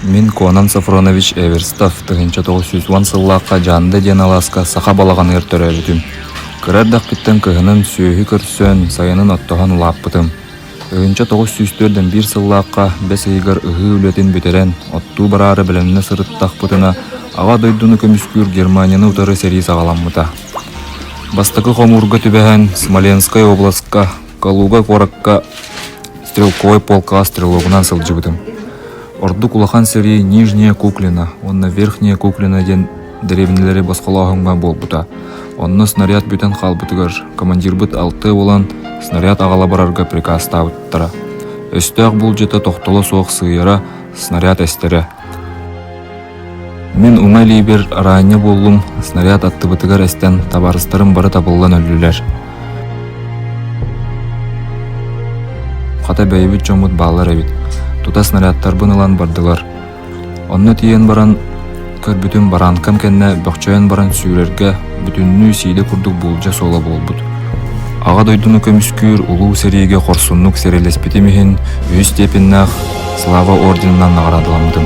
Мин Конан Софронович Эверстов тыһыынча тоҕус сүүс уон сыллаахха Дьаанда диэн алааска саха балаҕаныгар төрөөбүтүм. Кыра эрдэхпиттэн кыһынын сүөһү көрсөн, сайынын оттоһон улааппытым. Тыһыынча тоҕус сүүс түөрт уон биир сыллаахха бэс ыйыгар ыһыы үлэтин бүтэрэн, оттуу бараары бэлэмнэ сырыттахпытына, Аҕа дойдуну көмүскүүр Германияны утары сэрии саҕаламмыта. Бастакы хомуурга түбэһэн Смоленскай областка Калуга куоракка стрелковой полкаҕа стрелогунан сылдьыбытым. Ордук улахан сэрии Нижняя Куклина уонна Верхняя Куклина диэн дэриэбинэлэри босхолооһуҥҥа буолбута. Онно снаряд бүтэн хаалбытыгар командирбыт алтыа буолан снаряд аҕала барарга прикаастаабыттара. Өстөөх буулдьата тохтоло суох сыыйара, снаряд эстэрэ. Мин уҥа илиибэр араанньа буоллум, снаряд аттыбытыгар эстэн табаарыстарым бары табыллан өллүлэр. Хата бэйэбит дьоммут баалар эбит. Тута снарядтарбын ылан бардылар. Онно тиийэн баран көрбүтүм бараанкам кэннэ бөхчөйөн баран сүүрэргэ бүтүннүү сиилэ курдук буулдьа суола буолбут. Аҕа дойдуну көмүскүүр улуу сэриигэ хорсуннук сэриилэспитим иһин үһүс степеннээх Слава орденынан наҕараадаламмытым.